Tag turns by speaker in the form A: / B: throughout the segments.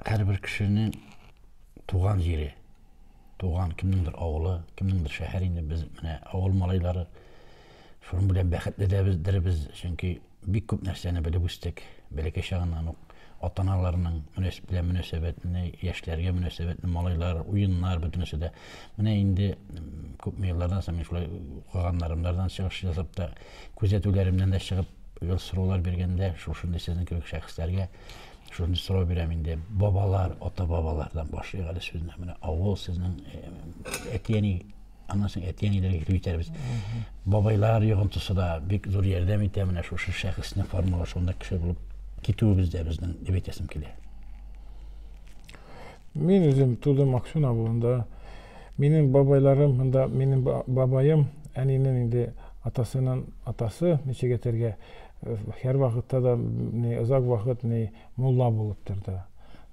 A: Һәрбер кешенең туган җире, туган кемнеңдер авылы, кемнеңдер шәһәр инде без менә авыл малайлары. Шуның белән бәхетле дә бездер без, чөнки бик күп нәрсәне белеп үстек. Бәләкәй чагыннан ук ата-аналарның белән мөнәсәбәтне, яшьләргә мөнәсәбәтне, малайлар, уеннар бөтенесе дә. Менә инде күпме еллардан соң мин шулай укыганнарымнардан чыгыш ясап та, күзәтүләремнән дә чыгып, ел сораулар биргәндә, шушындый сезнең кебек шәхесләргә Шуны сорау бирәм инде. Бабалар, ата-бабалардан башлыйк әле сүзне. Менә авыл сезнең әти-әни аннан соң әти-әниләргә китеп җитәрбез. Бабайлар йогынтысы да бик зур ярдәм итә менә шушы шәхесне формалашуында кеше булып китүебездә безнең дип әйтәсем килә.
B: Мин үзем тудым Аксун авылында. Минем бабайларым монда, минем бабаем әнинең инде атасының атасы ничек әйтергә Һәр вакытта да ни озак вакыт ни мулла булып торды.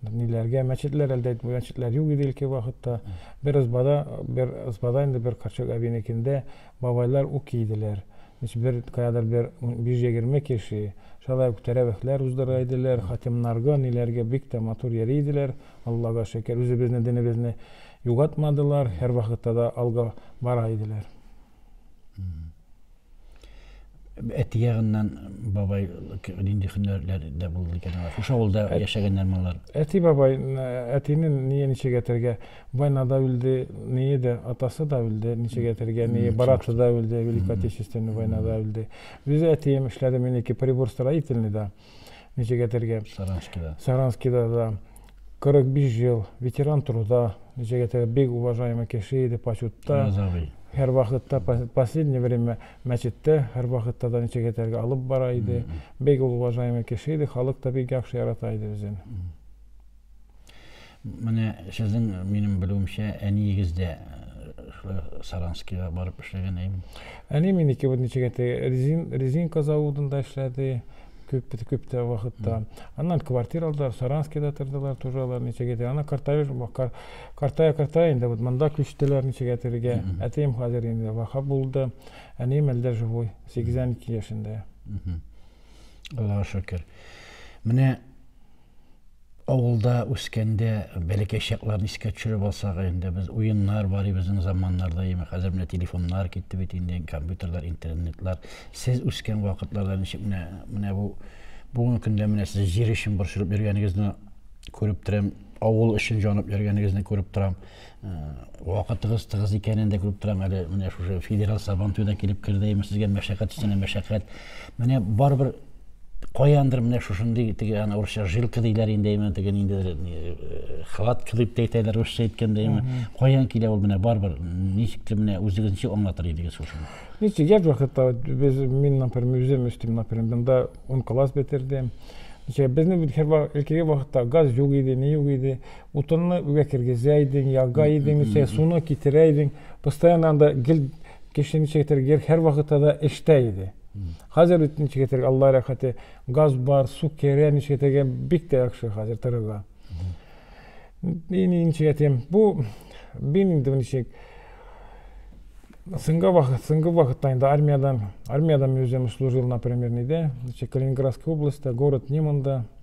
B: Ниләргә мәчетләр әлдә мәчетләр юк иде илке вакытта. Бер избада, бер избада инде бер Карчык әбинекендә бабайлар ук кийделәр. Ничә бер каядыр бер 120 кеше шулай ук тәрәвехләр уздыра иделәр, хатимнарга, ниләргә бик тә матур йөри иделәр. Аллага шөкер, үзебезне динебезне югатмадылар, һәрвакытта да алга бара иделәр.
A: Әти ягыннан бабай нинди һөнәрләрдә булды икән алар? Шушы авылда яшәгәннәрме алар? Әти бабай,
B: әтине ние ничек әтергә? Война да үлде, ние дә, атасы да үлде, ничек әтергә? Ние браты да үлде, Великая Отечественная война да үлде. Үзе әтием эшләде, минеке прибор строительный да. ничек әйтергә саранскида саранскида да кырык биш ел ветеран труда ничек әйтергә бик уважаемый кеше иде почетта һәрвакытта последнее время мәчеттә һәрвакытта да ничек әйтергә алып бара иде бик ул уважаемый кеше иде халык та бик яхшы ярата иде үзен
A: Менә сезнең минем белүемчә әниегез дә шулай Саранскига барып эшләгән әйм. Әни минеке
B: бит ничек әйтә, резин, резинка заводында эшләде күп күп тә вакытта. Аннан квартира алдылар, Саранскида тордылар, тоже алар ничек әйтә. Ана картая, картая, картая инде вот монда күчтеләр ничек әйтергә. Әтием хәзер инде вафат булды. Әнием әлдә живой, 82 яшендә.
A: Аллага шөкер. Менә авылда үскәндә бәләкәй чакларны искә төшереп алсак инде без уеннар бар безнең заманнарда яме хәзер менә телефоннар китте бит инде компьютерлар интернетлар сез үскән вакытларда ничек менә менә бу бүгенге көндә менә сез җир өчен борчылып йөргәнегезне күреп торам авыл өчен җанып йөргәнегезне күреп торам Вакытыгыз тыгыз икәнен дә күреп торам әле. Менә шушы федераль сабан туе да килеп керде. Имеш сезгә мәшәкать өстенә мәшәкать. Менә барыбер каяндыр менә шушындый теге ана урысча жилка диләр инде именно теге ниндидер э, хватка дип тә әйтәләр русча әйткәндә именно каян килә ул менә барыбер ничектер менә үзегез ничек аңлатыр идегез шушыны видите я вакытта
B: без мин например үзем өстим например монда он класс бетердем Безнең һәрвакытта газ юк иде, ни юк иде. Утынны үгә кергезә идең, яга идең, ничә суны китерә идең. Постоянно анда гел кеше ничә китер гер һәр вакытта да эштә иде. Хәзер бит ничә китер Алла рәхәте, газ бар, су керә, ничә китергә бик тә яхшы хәзер торырга. Мин ничә китем, бу бин инде ничек Сынга вакыт, сынга вакытта инде армиядән, армиядән мин үзем служил, например, ниде, ничек Калининградская область, город Неманда,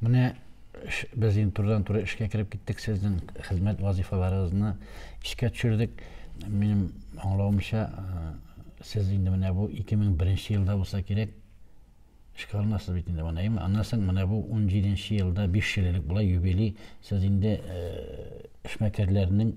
A: Менә без инде турыдан-туры эшкә кереп киттек, сезнең хезмәт вазифаларыгызны искә төшердек. Минем аңлавымча, сез инде менә бу 2001 елда булса кирәк, эшкә алынасыз бит инде монда, әйеме? Аннан соң менә бу 17 елда, 5 ел элек була юбилей, сез инде эшмәкәрләрнең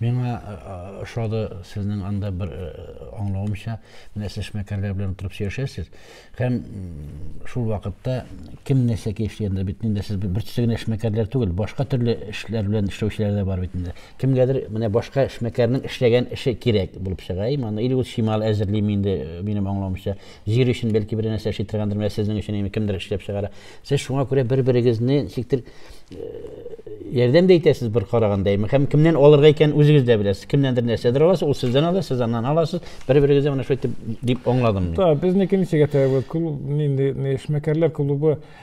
A: Миңа э, э, ошады сезнең анда бер э, аңлавымча, менә сез эшмәкәрләр белән утырып сөйләшәсез һәм шул вакытта кем нәрсә кәефли анда бит инде сез бер төрле генә эшмәкәрләр түгел, башка төрле эшләр белән эшләүчеләр дә бар бит инде. Кемгәдер менә башка эшмәкәрнең эшләгән эше кирәк булып чыга, иманы или ул чимал әзерлиме инде минем аңлавымча, Җир өчен бәлки бер нәрсә эшли торгандыр, менә сезнең өчен инде кемдер эшләп чыгара. Сез шуңа күрә бер-берегезне ничектер э, ярдәм дә итәсез бер караганда. Һәм кемнән алырга икән үзегез дә беләсез. Кемнәндер нәрсәдер аласыз, ул сездән ала, сез аннан аласыз. Бер-берегезгә менә шулай дип аңладым мин. Та, безнеке ничек әйтә,
B: клуб, нинди, эшмәкәрләр клубы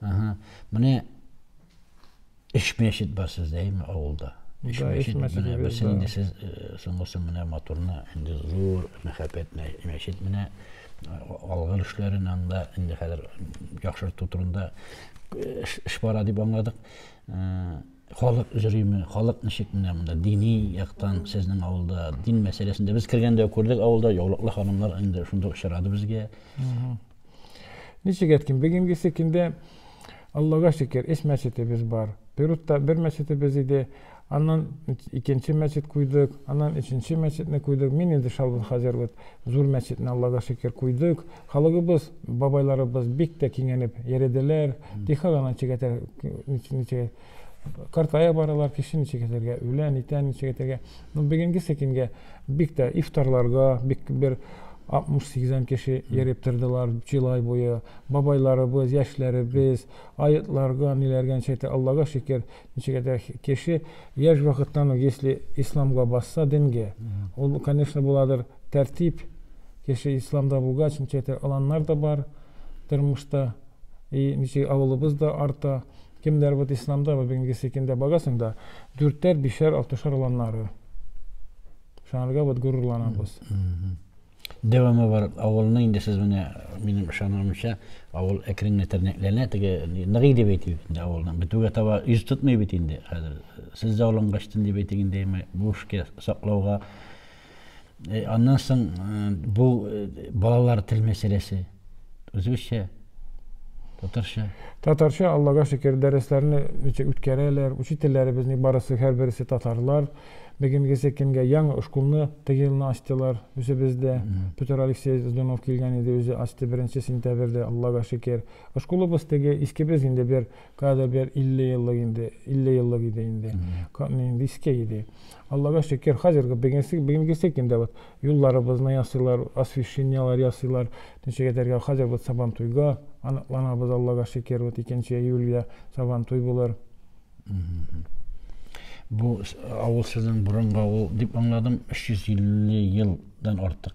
A: Ага. Менә эш мәчет бар сездә, әйме, авылда. Эш мәчет, менә берсен инде сез э, соңгысы менә моторны, инде зур мәхәббәт мәчет менә э, алгыр эшләрен анда инде хәзер яхшырту турында э, эш бара дип аңладык. Халык җөриме, халык ничек менә монда дини яктан сезнең авылда дин мәсьәләсендә без кергәндә күрдек авылда яулыклы ханымлар инде шунда очрады безгә.
B: Ничек әйткән, бүгенгесе көндә Аллага шөкер, өч мәчетебез бар. Перутта бер мәчетебез иде, аннан икенче мәчет куйдык, аннан өченче мәчетне куйдык. Мин инде Шалбын Хаҗәр вот зур мәчетне Аллага шөкер куйдык. Халыгыбыз, бабайларыбыз бик тә киңәнеп йәределәр. Тиха гына ничек әтәр, ничек картая баралар, кеше ничек әтәргә, үлә, нитә, ничек әтәргә. Ну, бүгенгесе көнгә бик тә ифтарларга, бик бер 60-80 кеше йөреп тордылар җылай буе. Бабайларыбыз, яшьләребез, аетларга, ниләргә ничек әтә, Аллага шөкер, ничек әтә кеше яшь вакыттан ук, если исламга басса, дингә, ул, конечно, буладыр, Тәртип кеше исламда булгач ничәтә аланнар да бар тормышта и ничек авылыбыз да арта кемнәр вот исламда вот бүгенге секиндә барасың да дүртәр бишәр алтышар аланнары шанарга вот горурланабыз
A: Дәвамы бар авылны инде сез менә минем ышануымча авыл әкрен генә тернәкләнә теге ныгый дип әйтик инде авылның бетүгә таба йөз тотмый бит инде хәзер сез дә алынгач дип әйтик инде буш саклауга Аннан соң бу балалар тел мәсьәләсе. Үзебезчә, татарча. Татарча, Аллага шөкер, дәресләрне үткәрәләр. Учительләребезнең барысы, һәрбересе татарлар. Бегенгесе кемгә яңа школны теге елны ачтылар үзебездә. Петр Алексей Здунов килгән иде, үзе ачты беренче сентябрьдә, Аллага шөкер. Школыбыз теге, искебез инде бер Кадәр бер 50 еллык инде, 50 еллык иде инде. Нинди иске иде. Аллага шөкер, хәзерге бүгенге бүгенгесе көндә вот юлларыбызны ясыйлар, освещенияләр ясыйлар. Ничек әйтергә, хәзер вот Сабантуйга аныкланабыз, Аллага шөкер, вот 2 июльгә Сабантуй булыр. Бу авыл сезнең борынгы авыл дип аңладым, 350 елдан артык.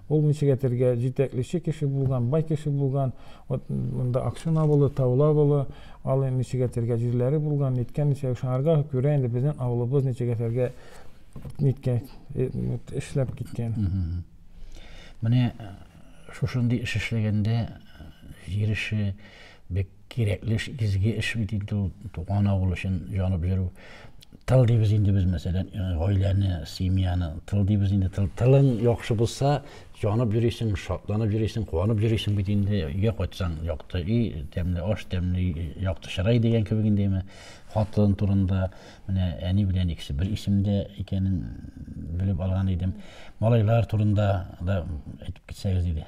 B: Ул ничек әйтергә, җитәклече кеше булган, бай кеше булган, вот монда Акшын авылы, Таулы авылы, ал ничек әйтергә, җирләре булган, ниткән ничек, шуңарга күрә инде безнең авылыбыз ничек әйтергә, ниткән, эшләп киткән.
A: Менә шушындый эш эшләгәндә җир эше, Бик кирәкле эш, изге эш бит инде ул, туган авыл өчен җанып йөрү. Тыл дибез инде без, мәсәлән, э, гаиләне, семьяны. Тыл дибез инде, тыл, тылың яхшы булса, җанып йөрисең, шатланып йөрисең, куанып йөрисең бит инде. Өйгә кайтсаң, якты өй, тәмле аш, тәмле якты чырай дигән кебек инде менә. Хатын турында менә әни белән икесе бер исемдә икәнен белеп алган идем. Малайлар турында да әйтеп китсәгез иде.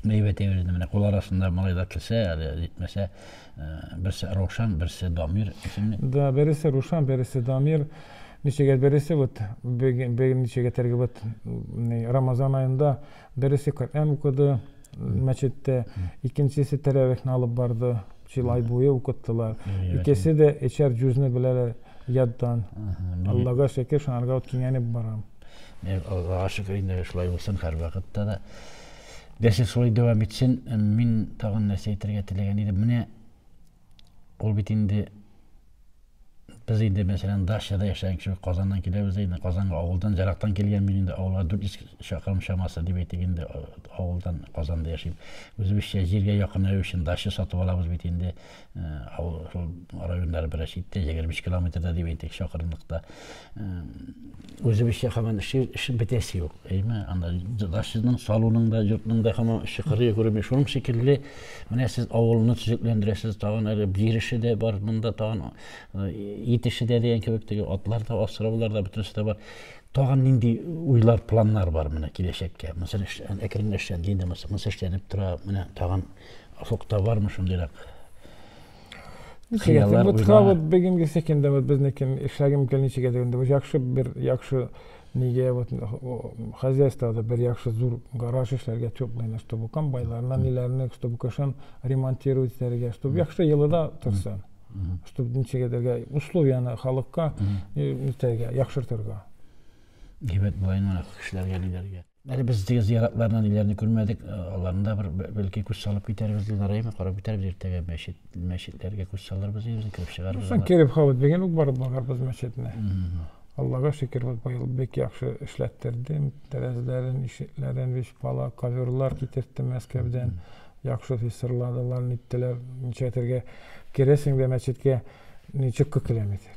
B: Мәйвә тәгәрәде
A: менә кул арасында малайлар килсә, әле җитмәсә, э, берсе Рошан, берсе Дамир исемле. Да, бересе Рушан,
B: бересе Дамир. Ничегә бересе вот бер ничегә тәрге вот Рамазан айында бересе Коръән укыды мәчеттә, икенчесе тәрәвихне алып барды. Шул ай буе укыттылар. Икесе дә эчәр җүзне беләләр яддан. Аллага шөкер, шуңарга вот кинәнеп барам. Э, Аллаһыга
A: шөкер инде шулай булсын һәрвакытта да. Дәрсе шулай дәвам итсен. Э, мин тагын нәрсә әйтергә теләгән идем. Менә ул бит инде без инде мәсәлән дачада яшәгән кеше Казаннан киләбез инде Казанга авылдан ярактан килгән мин инде авылга 400 чакрым чамасы дип әйтик инде э, авылдан Казанда яшим. Үзебезчә җиргә якынаю өчен дача сатып алабыз бит инде. Авыл шул районнары бераз читтә, 25 километрда дип әйтик, чакырымлыкта. Үзебезчә хаман эше, эше бетәсе юк. Әйме, анда дашның салуның да, йортның да хаман эше кырые күрми. Шуның шикелле, менә сез авылны төзекләндерәсез, тагын әле бир эше дә бар, монда тагын ит эше дә дигән кебек, теге атлар да, асраулар да, бөтенесе дә бар. Тагын нинди уйлар, планнар бар менә киләчәккә? Мәсәлән, әкренләшә, динде, мәсәлән, эшләнеп тора, менә тагын Офыкта бармы шундыйрак? Ничек
B: вот ха вот бегем кисек инде вот безнекен эшләгем кел ничек әйтә инде яхшы бер яхшы нигә вот хозяйствода бер яхшы зур гараж эшләргә теплыйны чтобы комбайларны ниләрне чтобы кышын ремонтировать итәргә чтобы яхшы елыда торсын чтобы ничек әйтергә условияны халыкка итәргә яхшыртырга
A: Димәк, былай мына кешеләргә лидерга. Әле без теге зыяратларны ниләрне күрмәдек, э, аларны да бер бәлки күз салып китәрбез, Динарайны карап китәрбез иртәгә мәчет, мәчетләргә күз салырбыз үзен кереп чыгарбыз. Соң кереп хавыз дигән
B: үк барып барырбыз мәчетне. Аллага шөкер, вот быел бик яхшы эшләттердем, тәрәзләрен, ишекләрен, биш бала коверлар китертте Мәскәүдән. Яхшы фисырладылар, ниттеләр, ничәтергә керәсең дә мәчеткә, ничек кокилометр.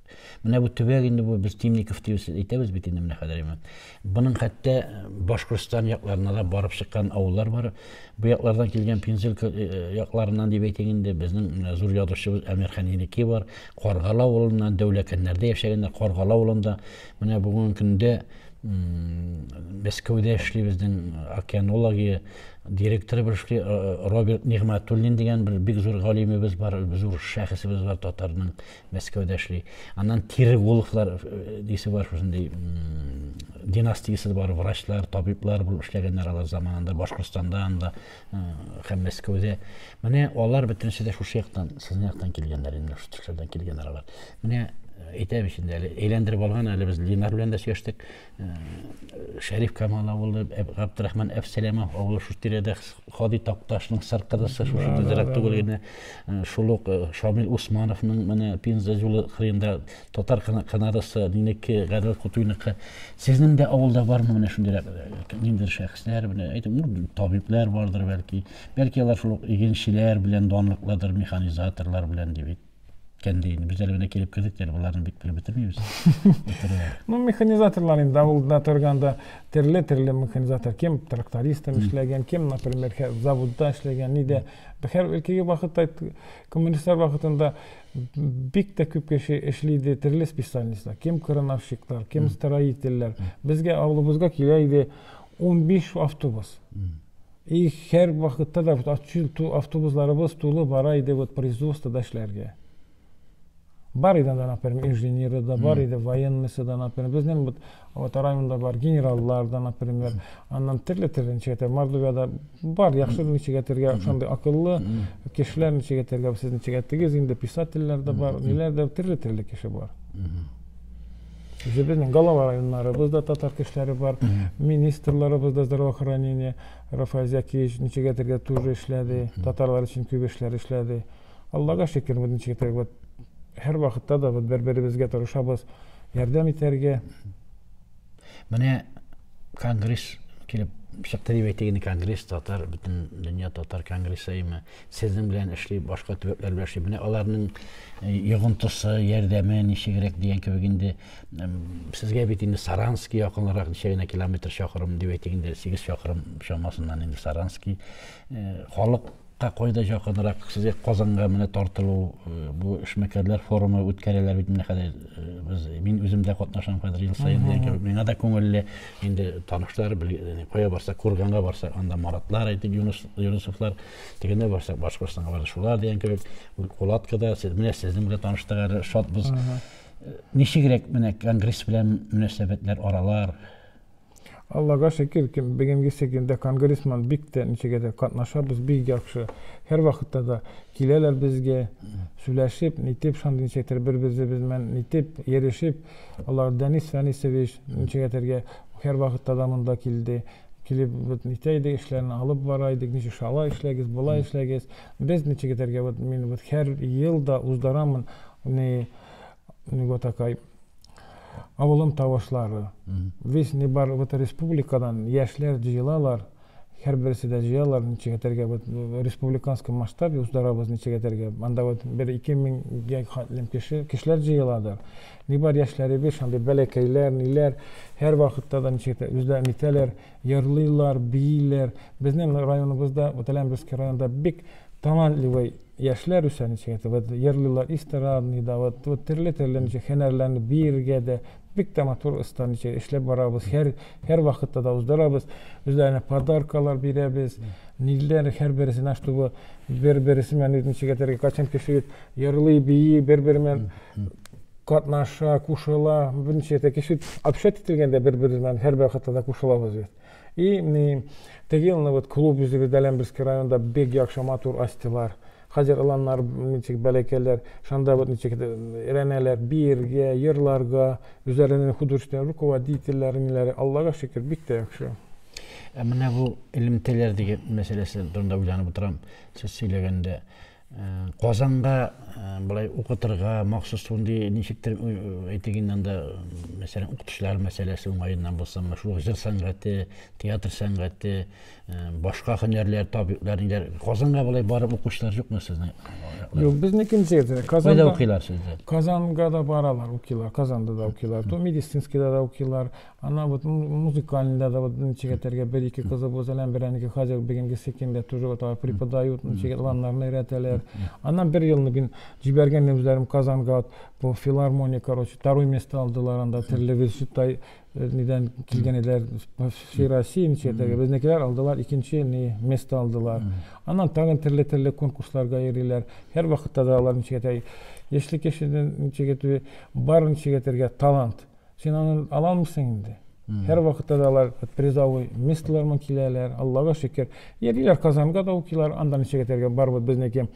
A: Менә бу төбәк инде бу без Темников дип әйтәбез бит инде менә хәзер. Буның хәтта э, Башкортстан якларына да барып чыккан авыллар бар. Бу яклардан килгән Пензил э, э, якларыннан дип әйтик инде безнең зур язучыбыз Әмир Хәнинеки бар. Каргала авылыннан Дәүләкәннәрдә яшәгәннәр. Каргала авылында менә бүгенге көндә Мәскәүдә эшли безнең океанология директоры бер эшли Роберт Нигматуллин дигән бер бик зур галимебез бар, зур шәхесебез бар татарның Мәскәүдә эшли. Аннан Тиреголовлар э, дисе бар шушындый династиясе бар врачлар, табиблар булып эшләгәннәр алар заманында Башкортстанда анда э, һәм Мәскәүдә. Менә алар бөтенесе дә шушы яктан, сезнең яктан килгәннәр инде, шушы төшләрдән килгәннәр алар. Менә әйтәм ич инде әле әйләндереп алган әле без Ленар белән дә сөйләштек. Шәриф Камал авылы, Габдрахман Әфсәләмов авылы шул тирәдә Хади Такташның сыр кызысы шушы тизрәк түгел генә шул ук Шамил Усмановның менә Пенза юлы кырында татар канадасы минеке Гадел Кутуйныкы. Сезнең дә авылда бармы менә шундыйрак ниндидер шәхесләр менә әйтим, ну, табиблар бардыр бәлки. Бәлки алар шул ук игенчеләр белән данлыкладыр, механизаторлар белән ди бит. кәнде инде без әле генә килеп кердек әле боларны бик белеп бетермибез
B: ну механизаторлар инде авылда торганда төрле төрле механизатор кем трактористом эшләгән кем например заводта эшләгән нидә хәр өлкәге вакытта коммунистлар вакытында бик тә күп кеше эшли иде төрле специальностьлар кем крановщиклар кем строительләр безгә авылыбызга килә иде 15 автобус И һәр вакытта да вот ачыл ту автобусларыбыз тулы бара иде вот производство да эшләргә бар иде анда например инженеры да бар иде военныйсы да например безнең вот вот районда бар генераллар да например аннан төрле төрле ничегәтә мордовияда бар яхшы ничегәтергә шундый акыллы кешеләр ничегәтергә сез ничегәтегез инде писательләр дә бар ниләр дә төрле төрле кеше бар Безнең Галава районнарыбыз да татар кешеләре бар. Министрларыбыз да здравоохранение, Рафаэль Зәкиевич Ничегәтергә тоже эшләде. Татарлар өчен күп эшләр эшләде. Аллага шөкер, без Ничегәтергә вот һәр вакытта да вот бер-беребезгә тырышабыз, ярдәм итәргә.
A: Менә конгресс килеп чыкты дип әйтик инде, конгресс татар, бөтен дөнья татар конгрессы имя. Сезнең белән эшли, башка төбәкләр белән эшли. Менә аларның йогынтысы, ярдәме ничегрәк дигән кебек инде сезгә бит инде Саранский якынрак ничә генә километр чакрым дип әйтик инде 8 чакрым чамасыннан инде Саранский. Халык Та кайда якынрак сезгә Казанга менә тартылу бу эшмәкәрләр форумы үткәрәләр бит менә хәзер без мин үзем дә катнашам хәзер ел саен дигән кебек миңа да күңелле инде танышлар кая барсак курганга барсак анда маратлар әйтик юныс юнысовлар дигәндә барсак башкортстанга бардык шулар дигән кебек кулаткада сез менә сезнең белән таныштык әле шатбыз ничегрәк менә конгресс белән мөнәсәбәтләр аралар
B: аллага шөкер бүгенге секундда конгрессман бик тә ничегә дә катнашабыз бик яхшы һәрвакытта да киләләр безгә сөйләшеп нитеп шундый ничектер бер беребез белән нитеп йөрешеп Алар, Дәнис Фәнисович, ничегәтергә һәрвакытта да монда килде, килеп вот нитә иде, эшләрне алып бара идек, ничек шала эшләгез, болай эшләгез. Без ничегәтергә вот мин вот һәр ел да уздарамын не не вот такай авылым тавышлары. Весь не бар вот республикадан яшьләр җыелалар. Һәрберсе дә җыялар, ничек әйтергә, вот республиканский масштаб уздырабыз, ничек әйтергә, анда вот бер-ике меңгә хәтлем кеше, кешеләр җыеладыр. Ни бар яшьләребез, шундый бәләкәйләр, ниләр, һәрвакытта да ничек әйтә, үзләрен итәләр, йырлыйлар, бииләр. Безнең районыбызда, вот Әләмберский районында бик талантливый яшьләр үсә, ничек әйтә, вот йырлыйлар эстрадный да, вот, вот төрле-төрле ничек һөнәрләрне биергә дә, Бик тә матур оста ничә эшләп барабыз. Һәр һәр вакытта да уздырабыз. Үзләренә подаркалар бирәбез. Ниләр һәр берсенә, чтобы бер-берсе белән ничек әйтергә, кайчан кеше йырлый, бии, бер-бер белән катнаша, кушыла. Берничә дә кеше общать ителгәндә бер-бер белән һәр вакытта да кушылабыз без. И, теге елны вот клуб үзебездә Ләмберский районда бик яхшы матур астилар. Хәзер оланнар ничек бәләкәйләр, шанда вот ничек өйрәнәләр биергә, йырларга, үзләренең художественный руководительләре, ниләре, Аллага шөкер, бик тә яхшы. Ә менә бу
A: элемтәләр дигән мәсьәләсе турында уйланып утырам, сез сөйләгәндә. Казанга болай укытырга махсус шундый ничектер әйтик инде анда, мәсәлән, укытучылар мәсьәләсе уңаеннан булсынмы, шул ук җыр сәнгате, театр сәнгате, Башка хөнәрләр, табиблар инде Казанга болай барып укучылар юкмы сезнең? Юк, безнекен
B: җирдә. Казанда Кайда укыйлар
A: сездә? Казанга да баралар,
B: укыйлар, Казанда да укыйлар. То медицинскийда да укыйлар. Ана вот музыкальныйда да вот ничек әтәргә бер ике кызы булса, ләм берәнеке хәзер бүгенге секендә тоже вот алар преподают, ничек ланнарны өйрәтәләр. Аннан бер елны мин җибәргән үзләрем Казанга вот бу филармония, короче, второй место алдылар анда, терле весютай Нидән килгән иде? Все Россия ничектәге. Безнекеләр алдылар, икенче ни место алдылар. Аннан тагын төрле-төрле конкурсларга йөриләр. Һәр вакытта да алар ничектәге. Яшьлек яшендә ничектәге бар ничектәге талант. Син аны ала алмыйсың инде. Һәр вакытта да алар призовой местоларман киләләр. Аллага шөкер. Йөриләр Казанга да укилар, анда ничектәге бар вот безнеке.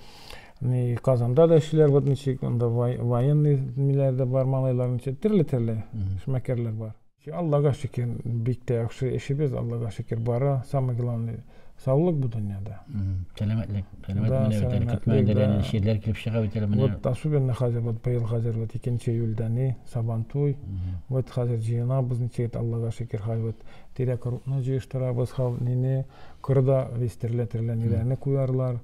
B: Ни, Казанда да эшлиләр, вот ничек, анда военный миләр дә бар, малайлар ничек, төрле-төрле эшмәкәрләр бар. Аллага шөкер, бик тә яхшы эшебез, Аллага шөкер, бара. Самое главное, саулык бу дөньяда. Сәламәтлек.
A: Сәламәт миләр бит әле, көтмәгәндә лә нинди чирләр килеп чыга бит әле менә. Вот особенно хәзер,
B: вот быел хәзер, вот икенче июльдә ни, Сабантуй. Вот хәзер җыенабыз, ничек, Аллага шөкер, хәзер вот тирәк рутны җыештырабыз, һәм нине, кырда весь төрле-төрле ниләрне куярлар.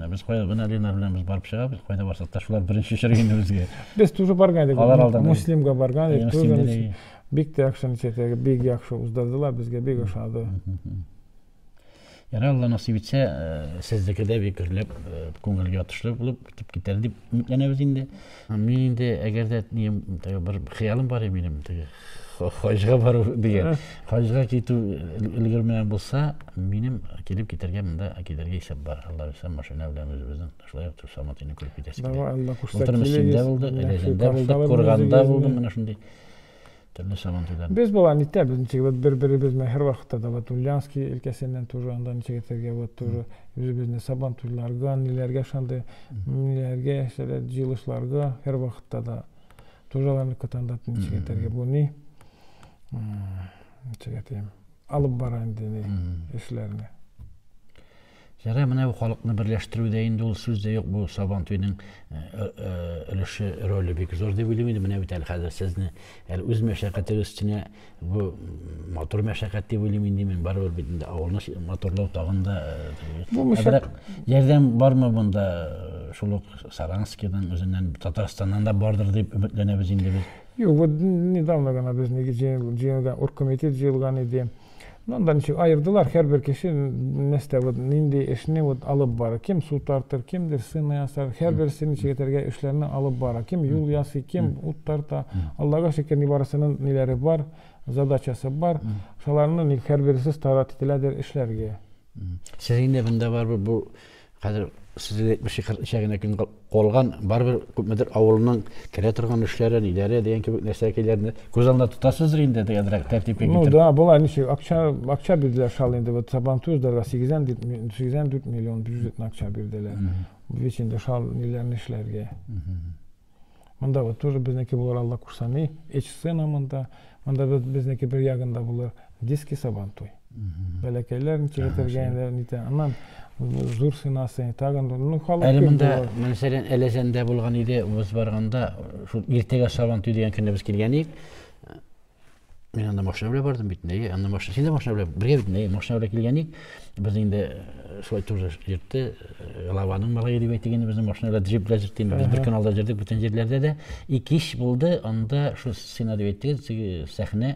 A: Без кая гына Лена белән без барып чыгабыз, кайда барсак та шулар беренче очрый инде безгә. Без тоже барган идек.
B: Алар алдан. Муслимга барган идек. Тоже бик тә яхшы ничәтәге бик яхшы уздырдылар, безгә бик ошады.
A: Ярый Алла насыйп итсә, э, сезнеке дә бик гөрләп, э, күңелгә ятышлы булып китеп китәр дип өметләнәбез инде. Мин инде әгәр дә бер хыялым бар иде минем, хаҗга бару дигән хаҗга китү өлгермәгән булса минем килеп китәргә монда китәргә исәп бар алла бирса машина белән үзебезнең шулай ук саматыйны күреп китәсе килә былтыр мөслимдә булдык рәзәндә булдык курганда булдым менә шундый төрле сабантуйлар
B: без болай нитәбез ничек вот бер беребезне һәрвакытта да вот ульянский өлкәсеннән тоже анда ничек әйтергә вот тоже үзебезне сабантуйларга ниләргә шундый ниләргә җыелышларга һәрвакытта да Тоже аларны көтәндәп ничек әйтергә бу ни? Ничек әйтим? Алып бара инде ни эшләрне.
A: Ярый, менә бу халыкны берләштерүдә инде ул сүз дә юк, бу Сабан туйның өлеше, роле бик зур дип уйлыйм инде. Менә бит әле хәзер сезне әле үз мәшәкатегез өстенә Бу матур мәшәкать дип уйлыйм инде мин, барыбер бит инде авылны матурлау тагын да э, ярдәм бармы монда э, шул ук Саранскидан үзеннән Татарстаннан да бардыр дип өметләнәбез инде без. Юк, вот
B: недавно гына без җыелган, оргкомитет җыелган иде. Ну, анда ничек аердылар, һәрбер кеше нәрсә вот нинди эшне вот алып бара. Кем су тартыр, кемдер сына ясар, һәрберсе ничек итәргә эшләрне алып бара. Кем юл ясый, кем ут тарта. Аллага шөкер, нибарысының ниләре бар, задачасы бар. Шаларны ник һәрберсе старат ителәдер эшләргә. Сез инде
A: монда барыбер бу Хәзер сезгә 70-40 ничә генә көн калган, барыбер күпмедер авылның керә торган эшләре, ниләре дигән кебек нәрсәкәйләрне күз алдына тотасыздыр инде, дигәнрәк тәртипкә китереп. Ну да, болай ничек, акча,
B: акча бирделәр шал инде, вот Сабан Туздорга 84 миллион бюджетный акча бирделәр. Бит инде шал ниләрне эшләргә. Монда вот тоже безнеке булыр Алла кушса ни. Эч сцена монда. Монда безнеке бер ягында булыр диски сабан туй. Бәләкәйләрен киретергә инде нитә. Аннан зур сынасы тагын ну халык. Әле монда мәсәлән
A: Әләзәндә булган иде, без барганда шул иртәгә сабан туй дигән көндә без килгән идек. Мин анда машина белән бардым бит, нәйе, анда машина, син дә машина белән, бергә бит, нәйе, машина белән килгән ик, без инде э, шулай тоже йөртте, э, лаваның малайы дип әйтик инде, безнең машина белән джип белән йөрттем, без бер көн алда йөрдек бөтен җирләрдә дә, и кич булды, анда шул сцена дип әйттегез, сәхнә,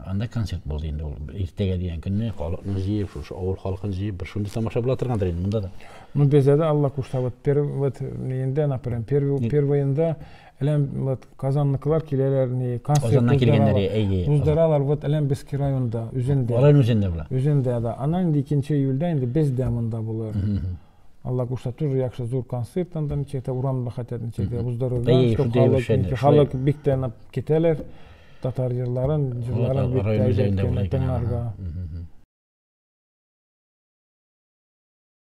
A: анда концерт булды инде ул, иртәгә дигән көнне, халыкны җыеп, шушы авыл халкын җыеп, бер шундый тамаша була торгандыр инде монда да. Ну, бездә дә Алла
B: кушса, вот, вот, инде, например, первый, первый инде, Әләм вот Казанныкылар киләләр ни, концерт Казаннан килгәннәр, әйе. Уздыралар вот әләм Бески районында, үзендә. Алар үзендә була.
A: Үзендә да. Аннан инде
B: 2 июльдә инде бездә монда булыр. Алла кушса, тоже яхшы зур концерт анда ничектә урамда хәтер ничектә уздырырга, чтобы халык, халык бик тә китәләр. Татар җырларын, җырларын бик тә әйбәт тыңларга.